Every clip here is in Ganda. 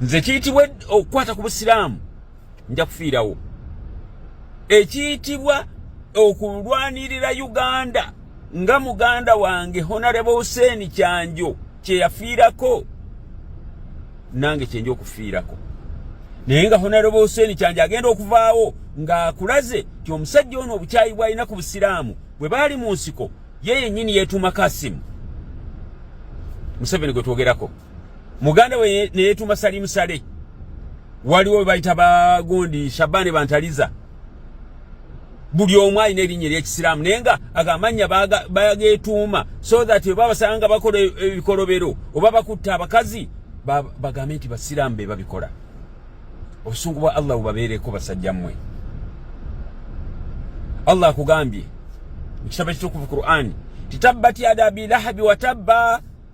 nze kiyitibwa okukwata ku busiraamu nja kufiirawo ekiyitibwa okulwanirira uganda nga muganda wange honarebo huseeni kyanjo kyeyafiirako nange kyenja okufiirako naye nga honarebo huseeni kyanjo agenda okuvaawo ng'akulaze ti omusajja ono obukyayi bwalina ku busiraamu bwe baali mu nsiko ye yennyini yeetuuma kasimu museveni gwe twogerako muganda we neyetuma salimu sale waliwo webayita bagundi shabani bantaliza buli omu alina erinnya eryekisiraamu naye nga agamannya bagetuuma so that oba basanga nga bakola e, ebikolobero oba bakutte abakazi bagambe nti basiraamu be babikola obusungu bwa allah bubabeereko basajja mmwe allah akugambye mu kitabo kitukuvu qur'ani titabbat yada abilahabi watabba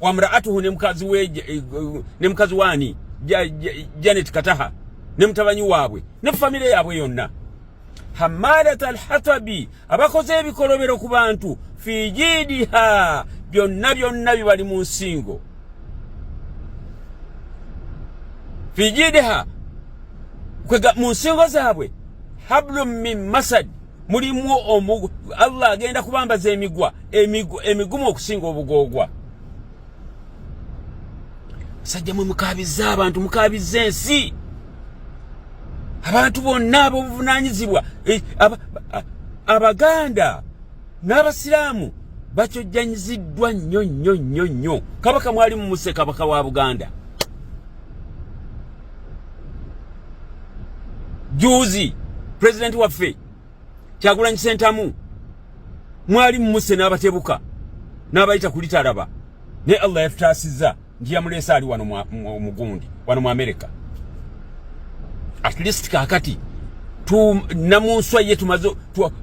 wamraatuhu ne mukazi we eh, eh, ne mukazi waani janet kataha ne mutabanyi waabwe ne famire yaabwe yonna hamalat alhatabi abakoze ebikolobero ku bantu fi jidiha byonna byonna bibali mu nsingo fi jidiha mu nsingo zaabwe hablum min masad mulimu omugu allah agenda kubambaza emigwa emigumu okusinga obugoogwa sajja mwe mukabizza abantu mukabizza ensi abantu bonna abobuvunanyizibwa eh, abaganda n'abasiraamu bakyojjanyiziddwa nnyo nnyo nnyo nnyo kabaka mwali mumuse kabaka wa buganda juuzi president waffe kyagulanyi sentamu mwali mumuse n'abatebuka n'abayita kulitalaba naye allah yatutaasizza nti yamuleese ali wano mugundi wano mu amerika at least kakati namunswa ye tumaze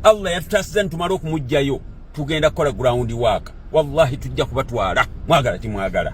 allah yatutaasiza nitumala okumugjayo tugenda kukola ground work wallahi tujja kubatwala mwagala timwagala